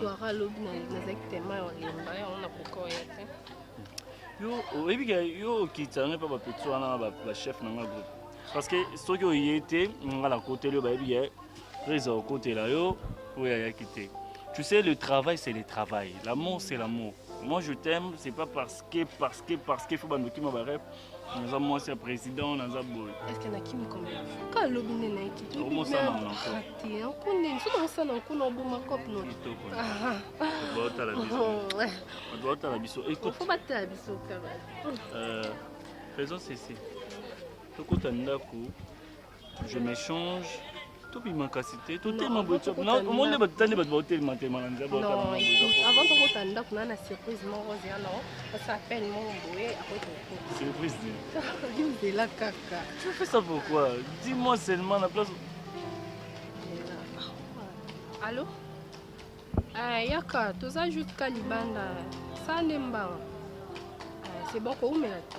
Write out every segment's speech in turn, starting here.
soara lobi nazalaki tema ya olemba yango nakoka oya te yo oyebi ke yo okitisa ngai mpe bapeti wana bachef na ngai groupe parce que soki oye te ngai nakoteli yo bayebi ke prise okotela yo oyo ayaki te tu sais le travail c'est le travail l'amour c'est l'amour Moi, je t'aime, c'est pas parce que, parce que, parce qu'il faut bandoki ma barep. naza mwasi ya président naza boye eske nakimi combien kala lobi nde nayeki tobimerate nko nini soki osala nkuna oboma cope notobatala biso fo batala biso kaka faisons ceci tokota ndako je m'échange tobima kasi te totema boyeomoni nde bato tande bato baotelema telema na nzela avant tokota ndako na na surprise moko ozela no osa appel moko boye akosurprise yozela kaka tu fais ça pourquoi dis moi seulement na place allo eh, yaka toza juste ka libanda sa nde mbawa eh, c'est bon koumela te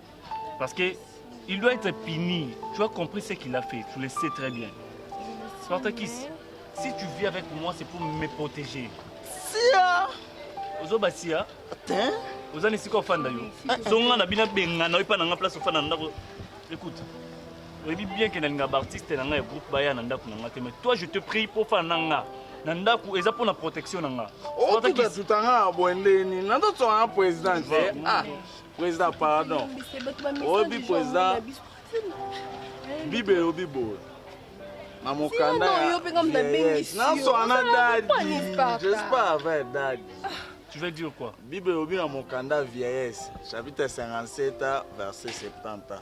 Parce que il doit être puni. Tu as compris ce qu'il a fait, tu le sais très bien. Spartakis, si tu vis avec moi, c'est pour me protéger. Sia Ozoba sia Attends oza na esika ofanda yo zonga na bino abengana oyo epa na nga place ofanda na ndako écoute oyebi bien ke nalinga baartiste na nga ya groupe baya na ndako na nga te mais toi je te prie mpo ofanda na nga na ndako eza mpo na protection na nga otutatuta nga ya bwendeni nazotsonga na président te ah President pardon. Obi president. Bible elobi boye. Na mokanda ya. Nanso ana dadi. J'espère avec dadi. Tu veux dire quoi Bible elobi na mokanda vieillesse, chapitre 57, verset 70.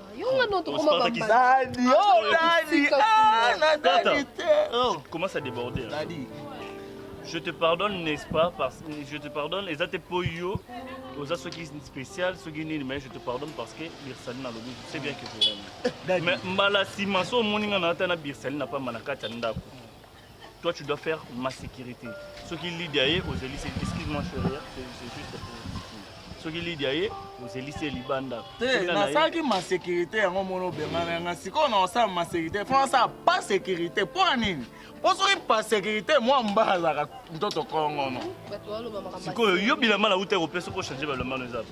Commence à déborder. Je te pardonne, n'est-ce pas parce que Je te pardonne, et ça te poyo. oza soki spécial soki nini mais je te pardonne parce que birsaline alobi je sais bien que je l'aime mais mbala nsima so omoni nga na ata na birsaline na pamba na kati ya ndako Toi tu dois faire ma sécurité. Soki Lydia ye ozeli c'est excuse-moi chérie, hein, c'est c'est juste pour soki Lydia ye ozeli c'est libanda. te Soki nga na ye- nasalaki ma sécurité yango mona obengana nga sikoyo na osala ma sécurité fo nasala pas sécurité mpo ya nini mpo soki pas sécurité mwa mbala azalaka ntoto kongono bato baloba makambo ya sikoyo yo bilamba na uta kopesa ko changer balamba no eza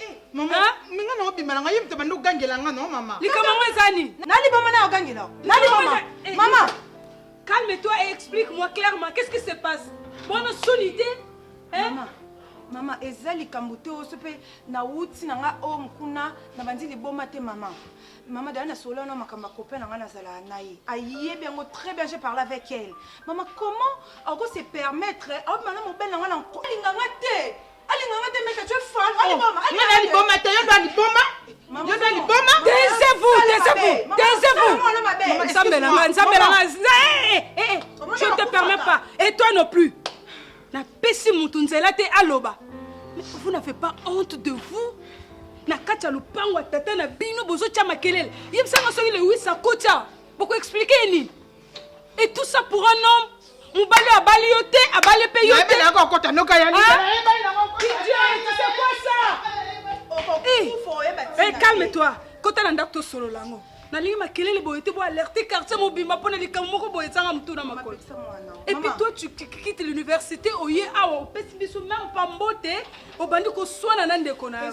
Eh, mama, ah? mais nga nao bima na nga yemte bando gangela nga no mama. Likama ngo ezani. Nali mama na gangela. Nali mama. Eh, mama. Calme-toi et explique-moi clairement qu'est-ce qui se passe. Bona solide. Hein? Mama. mama eza likambo te oso mpe nauti na ngai o mokuna na bandi liboma te mama mama dala nasolola na makambo ya copain na ngai nazalaka na ye ayebi yango très bien je parle avec elle mama comment ako se permettre aobima na mobele na ngai na nkolinga ngai te Alinganga te meka tu es fan. Oh, aliboma. Aliboma. Aliboma te yo doit liboma. Yo doit liboma. Taisez-vous, taisez-vous. Taisez-vous. Nzambe na nga, Nzambe na nga. Eh, eh, eh, eh. Je ne te permets pas. Et toi non plus. Na pesi mutu nzela te aloba. Mais vous n'avez pas honte de vous? na kati ya lopango ya tata na bino bozotya makelele yebisanga soki lewis akotya bokoexplike ye nini Et tout ça pour un homme mobali oyo abali yo te abali mpe yo te okokota noka ya calme toi kota na ndako tosolola yango nalingi makelele boye te boalerte quartier mobimba mpo na likambo moko boye ezanga motu na makolo epuis toi tu quitte l'université oye awa opesi biso meme pa mbote obandi koswana na ndeko na yo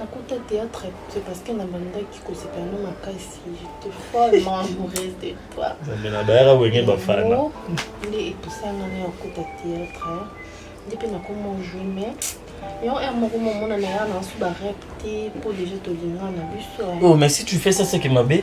Nakota théâtre c'est parce que na bandaki kosepela no makasi j'étais follement amoureuse de toi zamela bayaka wenge bafana nde epusanga na yakota théâtre nde mpe nakoma ojue mais yo heure moko momona na ya na nsu barep te mpo déjà tolingana na biso oh mais si tu fais ça c'est que mabe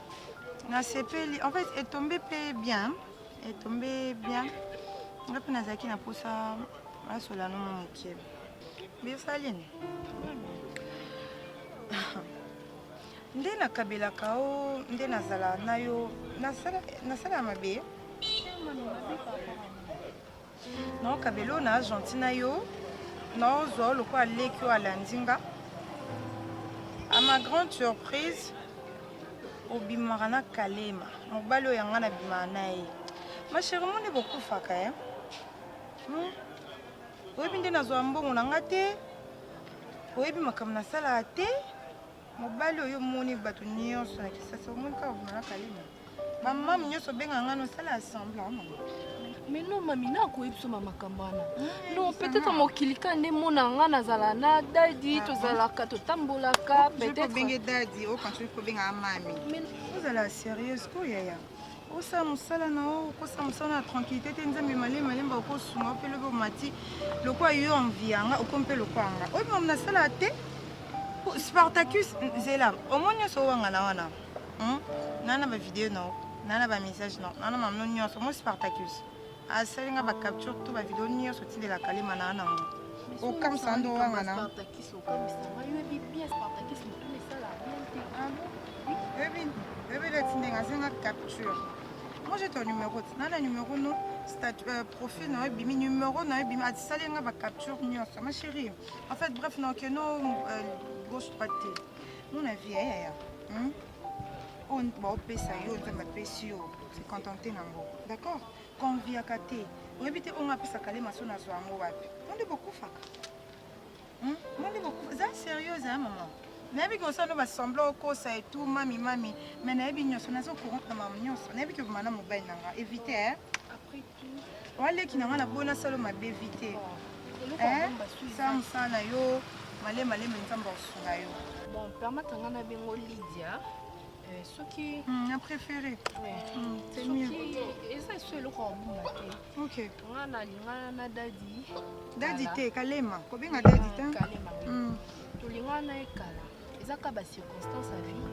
nasepeli en fait etombe mpe bien etombe bien nga mpe nazalaki na mposa asola no mwa moke biosali nini nde nakabelaka o nde nazala na yo nasala mabe Non Kabelo na gentil na yo naozwa yo lokola leki oyo alandi nga a ma grande surprise obimaka na kalema mobali oyo yanga nabimaka na ye ma chérie moni bokufaka e hmm? oyebi nde nazwa mbongo na nga te oyebi makambo nasalaka te mobali oyo omoni bato nyonso na kisasa omoni kaka vumela kalima bamami nyonso obenga ngai nosala assemble amama mais non mami nakoyebi biso ma makambo wana non peut-être mokili ka nde mona nga nazala na dadi ah, tozalaka ah. totambolaka peut-être obenge dadi okanisi obenga mami ozala sérieuse ko yaya okosala mosala na yo okosala mosala na tranquillité te nzambe malemi malemba okosunga yo mpe lobi omati lokola yo envi yanga okomi mpe lokola nga oyo mamu nasala te spartacus zela omo nyonso owangana wana hmm? nana bavideo na yo nana bamessage na yo nana mamno nyonso omo spartacus asali nga ba capture to ba video nyonso tindela kalema na ana ngo okamisa ndo wanga na ebele ah tindenge asenga capture moi j'ai ton numéro tina na numéro no statut euh, profil na ebimi numéro na ebimi atisali nga ba capture nyonso ma chérie en fait bref na okeno euh, gauche droite te mon avis yaya eh, eh, eh. hmm? baopesa yo nzambe apesi yo se contente na yango d'accord konviaka te oyebi te ongo apesaka le maso nazwa yango wapi mo nde bokufaka hmm? mo nde bokufa eza sérieux eza mama nayebi ke osala no basembla okosa etout mami mami mai nayebi nyonso naza courante na mama nyonso nayebi ke obima na mobali na nga évite eh? Wa leki na nga na bona salo mabe vite. Eh, sa musala na yo male male me nzambe akosunga yo. Bon, permettre nga na bengo Lydia. Euh, soki hmm, na préféré hmm, c'est mieux eza so eloko ya buma te ok nga nalingana na dadi dadi te kalema kobenga dadi te kalema hmm. tolingana na ye kala eza ka bacirconstance ya vie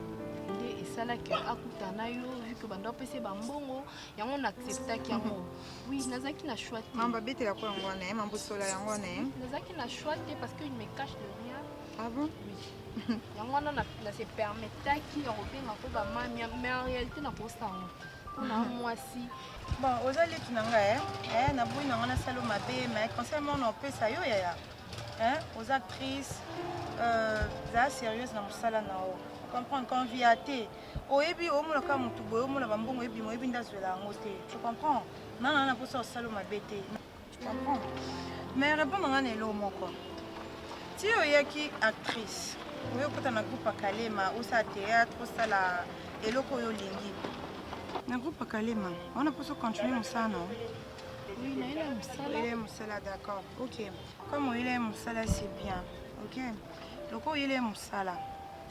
nde esalaki akutana yo vike banda opesa ye bambongo yango na acceptaki yango oui nazalaki na choix te mamba betela ko yango wana mamba osola yango wana nazalaki na choix te parce que il me cache de rien ah bon oui yango wana na se permettaki ya kobenga ko bamami mais en réalité nakosanga mpona mwasi bon oza leki na ngai eh? eh, naboyi na ngai nasalo mabe mais conseil mona opesa yo yaya eh? oza actrice euh, zala sérieuse na mosala na yo comprendre convia te oyebi omona kaka motu boye omona bambongo ebima oyebi nde azwela yango te tu comprends nana na mposa osalo mabe te tu comprends mais répondre nga na eloo moko ti oyaki actrice oyo okota na groupe akalema osala théâtre osala eloko oyo olingi na groupe akalema wana mposa ocontinue mosala na oyele mosala d'accord ok comme oyele mosala c'est bien ok loko oyele mosala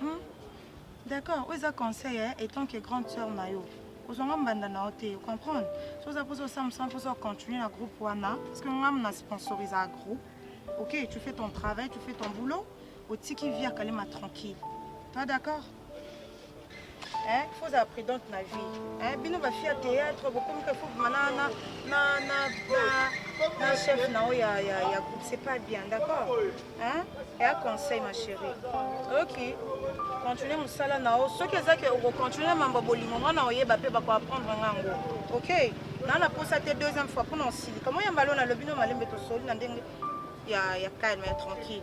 Hmm. D'accord, oyo eza conseil hein, étant que grande sœur na yo. ozwanga mbanda na yo te comprendre so oza mposa osamisa mposa ocontinue na groupe wana parce que ngam na sponsorise ya groupe ok tu fais ton travail tu fais ton boulot otiki vie ya kalema tranquille toi d'accord Hein, faut être prudente na vie. Hein, bino ba fia théâtre bokomi ka faut mana na na na na chef na o ya ya ya groupe c'est pas bien, d'accord? Hein? Et un conseil ma chérie. OK. Continuez musala na o. Soki ezaki oko continuer mambo bolingo mwana oyeba pe ba ko apprendre ngango. OK? Na na posa te deuxième fois pour non si. Comment yamba lona lobino malembe to soli na ndenge ya ya calme, ya tranquille.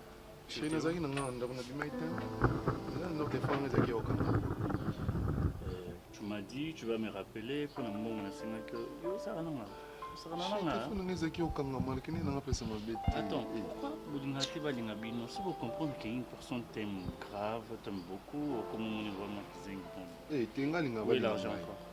Chérie, nazalaki na nga na ndako na bimaki te. Eza na ndako telefone ezalaki ya kokanga. Euh, tu m'as dit tu vas me rappeler mpo na mbongo nasengaki yo yo osaka nanga osaka na nanga Telefone na nga ezalaki ya kokanga malkene na nga pesa mabe te. Attends, Eh, pourquoi bolinga te balinga bino si bocomprendre que une personne t'aime grave t'aime beaucoup okomomoni vraiment kizengi bon Eh, te nga linga Oui, balinga l'argent ngai. encore.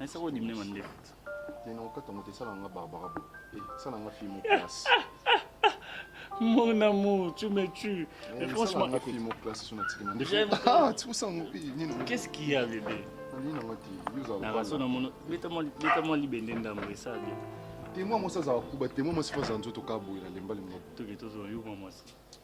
Na sako di mema nde. Ni na okata moto esala nga Barbara bo. Eh, sala nga fille mo classe. Mon amour, tu me tues. Eh, Mais franchement, nga fille mo classe sur na tikima. Nde. Ah, tu sens mon pays. Qu'est-ce qu'il y a bébé? Ni na ngati, yuza. Na raso na mono, beta mo beta mo libende ndambo esala bien. Témoin mo sa za kuba, témoin mo sifa za nzoto kabuela lembali mo. Toke tozo yo mo mo.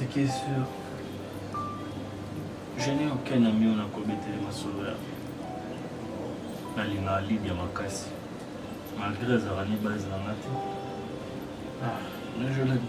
Ce qui est sûr, je n'ai aucun ami oyo nakobetele masolo ya nalingaka libya makasi malgré azalaka ni base na nga te ah, mais je l'aime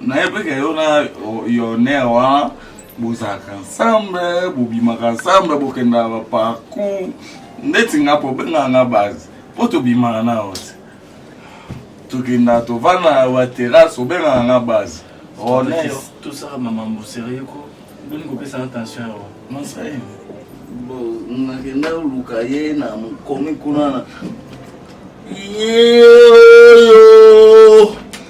nayebi ke yo na yoner wana bozalaka ensemble bobimaka ensemble bokendaka baparcour ndeti nga mpo obengaka nga base mpo tobimaka na yo te tokendaka tovandaka baterrasse obengaka nga base tosaka mamambo serieux ko boni kopesa na tension yawa masai nakenda luka ye na mokomi kuna na ye oyo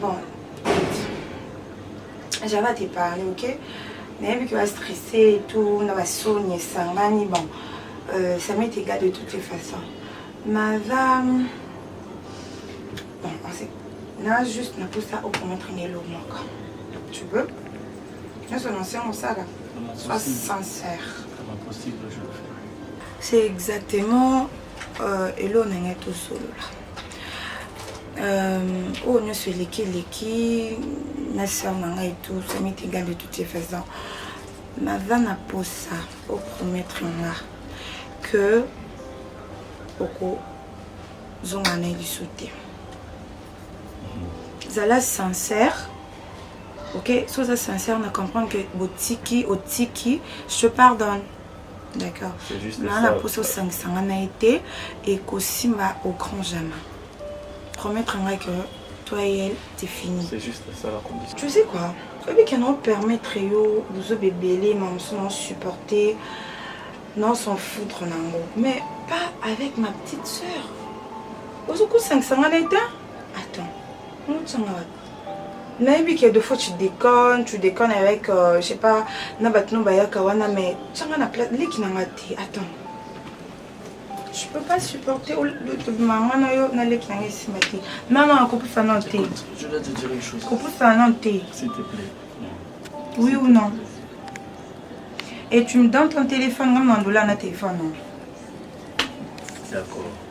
Bon, j'avais te parler, ok nayebi ke bastresse et tout na basoni esangani bon euh, ça m'est égal de toutes les façons madame bon on sait na juste na posa okomatre na elo moko tu veux nyonso na nse mosala soit sincère c'est exactement euh, elo na ngai tosolola euh, oyo nyonso eleki eleki na sœur na ngai tout ça m'est égal de toutes les façons naza na posa opromettre nga que okozonga na ye liso te zala sincère ok soki oza sincère na comprendre que botiki otiki je te pardonne d'accord naa na mposa osangisa nga na ye te ekosimba au grand jamais promettre ngai que toi et elle c'est fini c'est juste ça la condition tu sais quoi oyebi ke nao permettre yo bozoba ebele ma mosu nao supporter nao s'en foutre na yango mais pas avec ma petite sœur ozokosangisa nga na ye te attends motsanga wapi nayebi que de fois tu déconne tu déconne avec euh, je sais pas na bato no bayaka wana mais tianga na place leki na nga te attends je peux pas supporter mama na yo na leki na nga esimba te non non kopusa non te kopusa non te oui ou non et tu me donnes ton téléphone nga mandola na téléphone non d'accord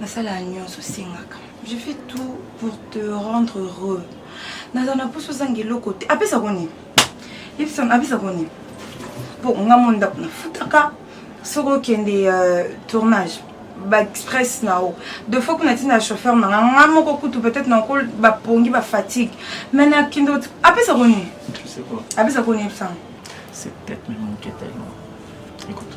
nasala nyonso osengaka je fais tout pour te rendre heureux naza na mposo ozanga eloko te apesa ko nini apesa ko nini mpo nga mo ndako nafutaka soki okende euh, tournage baexpress na yo de fois kuna ntina ya chauffeur nanga nga moko kutu peut-être nako bapongi bafatigue mai nakende apesa ko nini apesa ko nini epesanga C'est peut-être même mon quête à moi. Écoute.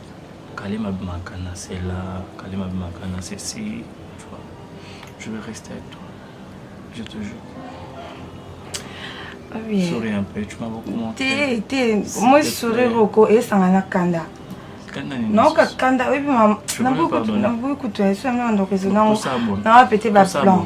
Kalim abimaka na sela Kalim abimaka na sesi tu vois je vais rester avec toi je te jure Ah oui. Souris un peu, tu m'as beaucoup montré. T'es, t'es, moi souris beaucoup et ça m'a kanda. naoka kanda oyebi naboyi kutu na esu yango na ndoko ezo nango nawa pete baplan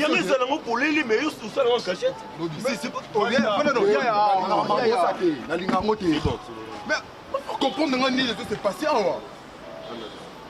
yango ezala ngo polele me osala ngo cachete nalinga yango te comprendre nga nini ezo se passe awa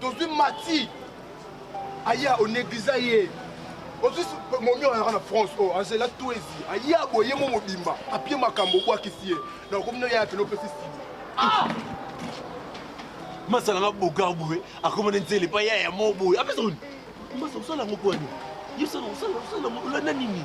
tozwi mati aya onegliza ye ozwi momi oyaka na france oyo oh, azela tuezi aya boye mo mobimba apie makambo obwakisi ye na okomi no yaya pene opesi sini ah! masala nga bogar boye akomana nzele pa yaya mo boye apesa oni masa osala yango pwani yosala osala osala olanda nini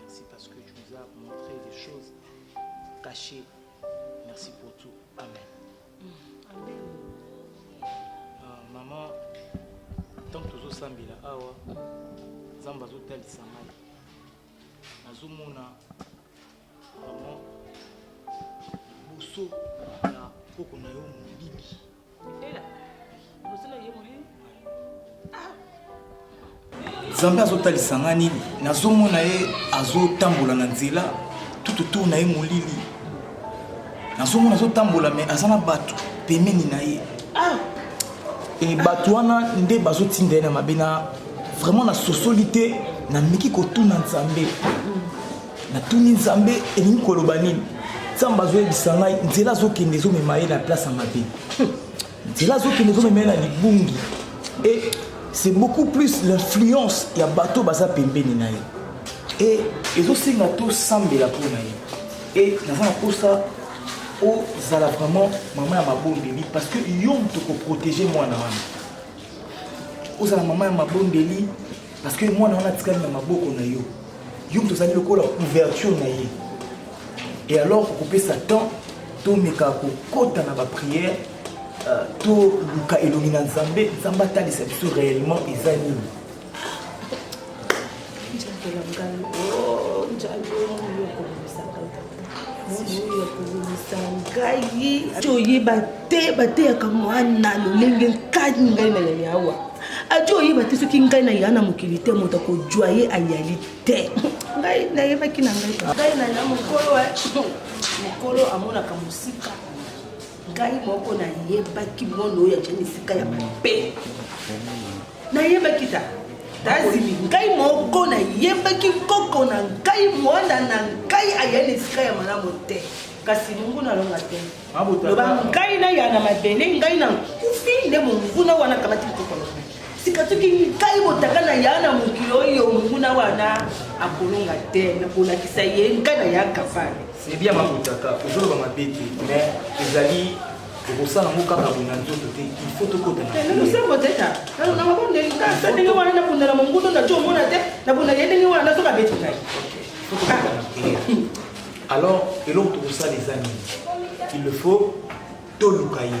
Merci parce que tu nous as montré des choses cachées. Merci pour tout. Amen. Mm. Amen. Ah, maman, tant que tu sambila awa, Nzambe azotalisa ngai. Nazomona vraiment liboso ya koko na yo molili. nzambe azotalisa nga nini nazomona ye azotambola na nzela tututu na ye molili nazomona azotambola me aza na bato pemeni na ye ah! e bato wana nde bazotinda ye na mabe na vraiment nasosoli te nameki kotuna nzambe natuni nzambe elingi koloba nini nzambe azoyebisa ngai nzela azokende ezomema ye na place ya mabe nzela azokende ezomema ye na libungi e c'est beaucoup plus l'influence ya bato baza pembeni na ye e ezosenga tosambela mpo na ye e naza na mposa ozala vraiment mama ya mabondeli parce que yo moto koprotege mwana wana ozala mama ya mabondeli Parce que mwana wana atikali na maboko na yo. Yo moto ozali lokola ouverture na ye. Et alors okopesa temps tomeka kokota na baprière euh, toluka elongi na nzambe nzambe atalisa biso réellement eza nini oyeba te bateyaka mwana lolenge nkani ngai na yali awa ajo oyeba te soki ngai na ya na mokili te moto akojwa ye ayali te ngai nayebaki na ngai ngai na ya mokolo eh. mokolo amonaka mosika ngai moko nayebaki mono oyo ajani esika ya mabe nayebaki ta tazimi ngai moko nayebaki koko na ngai mwana na ngai ayei na esika ya malamu te kasi monguna alonga te loba ngai naya na mabele ngai na nkufi nde monguna wana akamati mokoko na ngai sika soki ngai motaka na ya na mokili oyo monguna wana akolonga te nakolakisa ye ngai na ya kavale ebia mamotaka ozoloba mabe te mais ezali okosala yango kaka boye na nzoto te il faut tokotanalosambo te ta nalonamabondesa ndenge wana nabunda na mongundo na jo omona te nabunda ye ndenge wana nazoka beti ngai alors eloko tokosala eza nini il le faut toluka ye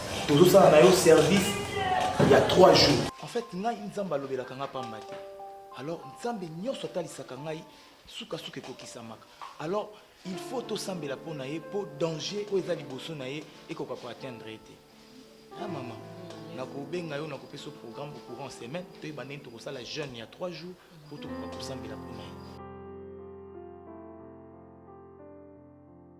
tozosala na yo service ya 3 jours en fait ngai nzambe alobelaka ngai pamba te alors nzambe nyonso atalisaka ngai sukasuka ekokisamaka alors il faut tosambela mpo na ye mpo danger oyo eza liboso na ye ekoka koatteindre ye te a ah, mama nakobenga yo nakopesa yo programme courant semaine toyeba ndenge tokosala jeune ya 3 jours mpo tokoka kosambela mpo na ye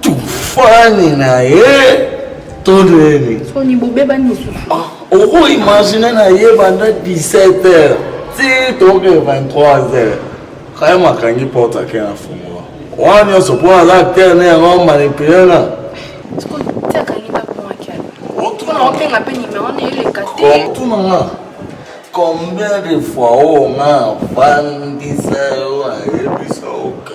tufani na ye to nini soni bobebani lisusu ah, okoimagine na ye banda 17 heures ti toke 23 heures kaya makangi porte ake na fungola wana nyonso mpo aza acteur ne yango manipule na otuna nga combien de fois oyo nga afandisa yo ayebisa oka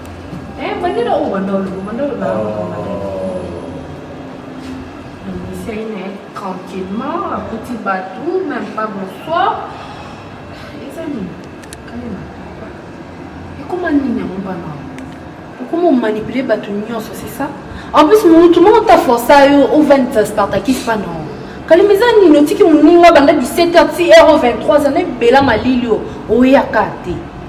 Eh, bandela oyo banda olobo banda oloba nobisai na ye tranquillement akuti bato même pas bonsoir eza nini kalema ekoma nini yango bana okoma omanipule bato nyonso c'est ça en plus motu moko ta forsa yo ovandisa spartakis pana kalima eza nini otiki moninga banda 17 heure ti heure 23 zana ebela malili oyo oyaka te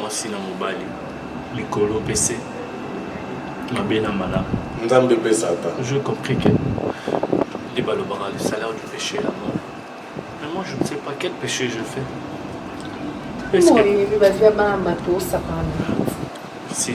mwasi na mobali likolo mpe se mabe na malamu nzambe mpe satan je compris que nde balobaka le salaire du péché la mort mais moi je ne sais pas quel péché je fais si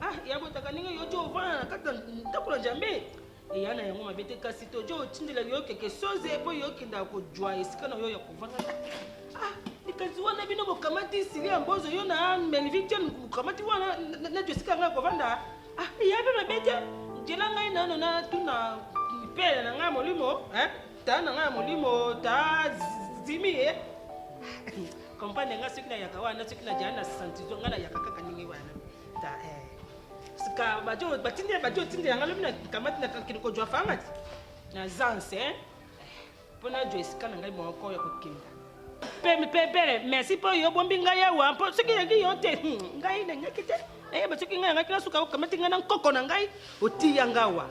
Ah, ya botaka ndenge yo jo ovanda na kati ndako na Njambe. Eya na yango mabe te kasi tojo otindela yo keke soze mpo yo okendaka kojwa esika na yo ya kovanda. Ah, likanisi wana bino bokamati Silia Mbozo yo na Melvin John bokamati wana najo esika ngai kovanda. Ah, eya mpe mabe te. Njela ngai nano natuna mipele na ngai molimo. Eh? Tata na ngai ya molimo ta zimi ye kompani ngai soki nayaka wana soki najala na santizo ngai nayaka kaka ndenge wana ta eh. sika bajo batindi bajo otindela ngai lobi nakamati nakakende kojwa fangati naza nse mpo najwa esika na ngai moko ya kokenda pempepele merci mpo yo bombi ngai awa mpo soki yangi yo te hmm, ngai nangaki te nayeba eh, soki ngai yangaki nasuka okamati ngai na nkoko na ngai otiya ngai awa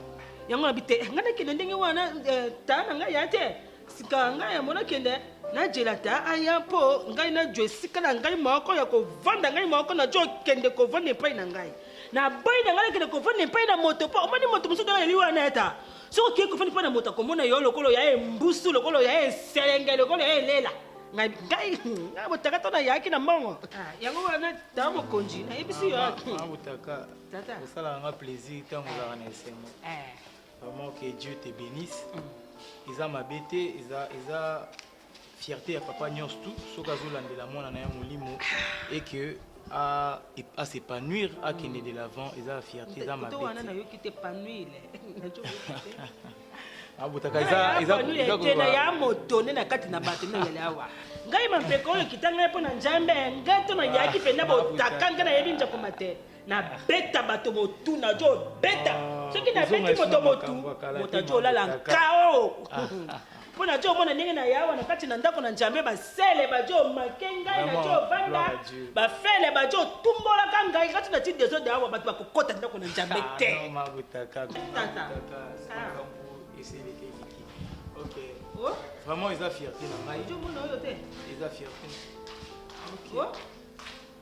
yango nabi te eh, ngai nakende ndenge wana eh, taa na ngai ya te sika ngai yango nakende najela ta aya mpo ngai najo esika na ngai moko ya kovanda ngai moko najo okende kovanda epai na ngai nabai na ngai nakende kovanda epai na moto mpo omoni moto mosusu ngai yeli wana eta soki okei kofandi mpo na moto akomona yo lokolo ya ye mbusu lokolo ya ye selenge lokolo ya ye elela ngai ngai ngai botakata na yaki na mbongo Ah, yango wana tata mokonzi nayebisi yo Mama Butaka, Tata. osalaka nga plaisir ntango ozalaka na esengo. Eh, Vraiment que Dieu te bénisse. Eza mabe te, eza eza fierte ya papa nyonso tu soki azolandela mwana na ye molimo et que à, à s'épanouir, à qu'il de l'avant, et à fierté, à ma bête. abotaka ah, ah, eza ya motone na kati na bato nde oyali awa ngai mampeko oyo kita ngai mpo na njambe ngai to nayaki mpenza ah, botaka ngai nayebi njakoma te na beta bato motu na jo beta ah, soki na beti moto motu moto ajo olala nkao mpo na jo omona ndenge na yawa na kati na ndako na njambe basele bajo make ngai na jo vanda bafele bajo tumbolaka ngai kati na ti desode awa bato bakokota ndako na njambe ah, te oh? vraiment eza fierté na ngai eza fierté oh?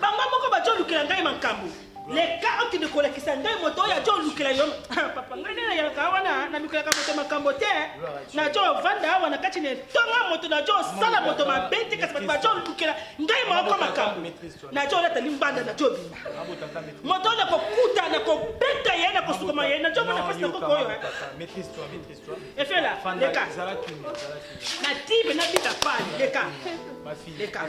Bango moko bajo lukela ngai makambo. Le cas okende kolakisa ngai moto oyo ajo lukela yo. Ah, papa ngai nde nayaka wana nalukelaka moto makambo te. Najo vanda awa na kati na etonga moto najo sala moto mabe te kasi bato bajo lukela ngai moko makambo. Najo lata limbanda najo bima. Moto oyo nakokuta nakobeta ye nakosukuma ye najo mona pasi na koko oyo. Efela leka. Na tibe nabika pale leka. Leka.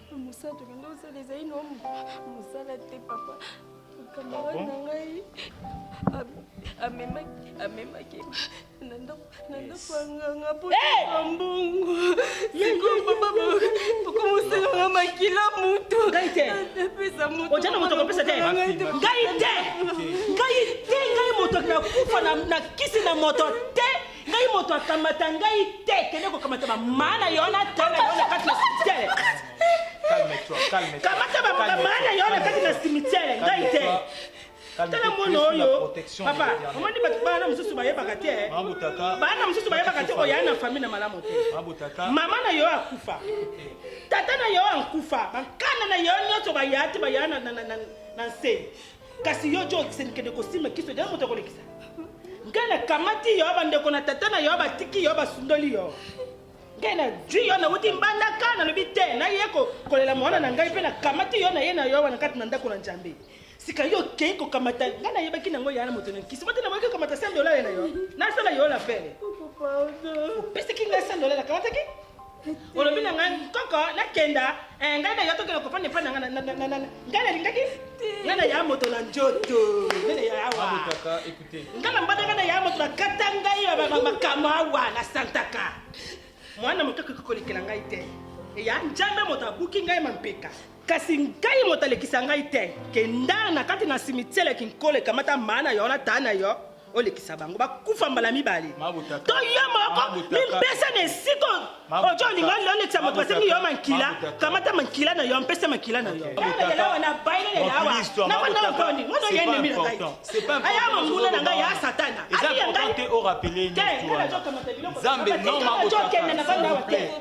mosala tokende osala ezali no mosala te papa kamarade ah na ngai amemaki na ndako ya nganga mpo na mbongo sikoyo papa okomosalanga makila moto apesa motoja na moto akopesa te ngai te ngai te ngai moto nakufa na kisi na moto te ngai moto akamata ngai te kende kokamata bamama na yo na tala na yo na kati na simitele kamata bamama na yo na kati na simitele ngai te tala mwana oyo papa omoni bato bana mosusu bayebaka te eh. bana mosusu bayebaka te oya na fami na malamu te mama na yo akufa tata na yo akufa bankanda na yo nyonso baya te baya na nse kasi yo jo okisenikende kosimba kiso nde moto akolekisa ngai nakamati yo bandeko na tata na yo batiki yo basundoli yo ngai nazwi yo nauti mbandaka nalobi te naye kolela mwana na ngai mpe nakamati yo na ye na yo wana kati na ndako na njambe sika yo okei kokamata ngai nayebaki nango yana moto na nkisi bote naboki kokamata sandolale na yo nasala yo lapele opesaki ngai sandolale akamataki olobi na ngai koko nakenda eh, ngai nayo tokenda kopanda epai na ngai ngai nalingaki ngai naya moto na njoto ngai naya awa ngai na mbanda ngai naya moto bakata ngai makambo awa na santaka mwana moke akoki kolekela ngai te eya njambe moto abuki ngai mampeka kasi ngai moto alekisa ngai te kenda na kati na simitiele kinkolo ekamata maa na yo na taa na yo olekisa bango bakufa mbala mibale to yo moko mimpesa na esika ojo olingo olekisa moto asengi yo mankila kamata mankila na yo mpesa mankila na yo aya manguna na ngai ya satana eza important te orapele nzambe non mabotaka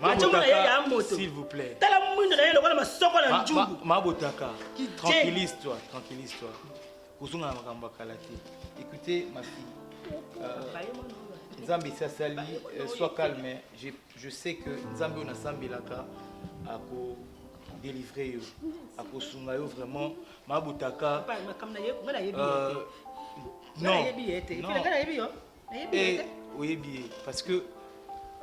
Mabotaka, s'il vous plaît. Tala mwindo na ye lokola masoko na njugu. Mabotaka, tranquillise-toi, tranquillise-toi. Kozonga na makambo ya kala te. Écoutez, ma fille. Euh, Nzambe esi asali, euh, sois calme. Je, je sais que Nzambe oyo nasambelaka ako délivrer yo, akosunga yo vraiment. Mabotaka. Euh, non. Non. Eh, oyebi ye parce que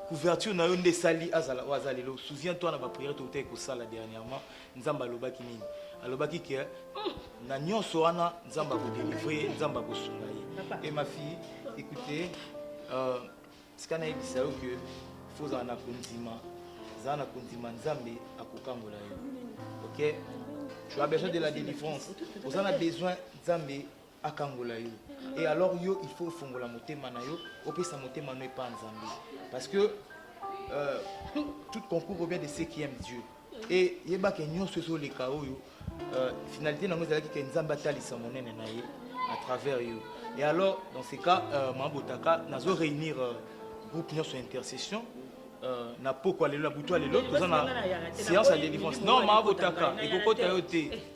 couverture na yo nde esali azala oyo aza lelo souviens toi na baprière toutai kosala dernièrement nzambe alobaki nini alobaki ke hmm, na nyonso wana nzambe akodelivre ye nzambe akosunga ye e ma fille écoute euh, tika nayebisa yo ke fo ozala na kondima zala na kondima nzambe akokangola yo ok tu as besoin de la délivrance oza na besoin nzambe akangola yo et alors yo il faut ofongola motema na yo opesa motema no epa nzambe parce que euh, tout concours revient de ceux qui aiment dieu et yebake nyonso ezoleka oyo euh, finalité nango ezalaki ke nzambe atalisa monene na ye à travers yo et alors dans ce cas euh, mabotaka nazo réunir euh, groupe nyonso intercession Euh, na pokwa lelo na butu ya lelo toza na séance ya délivrance non maabotaka ekokota yo te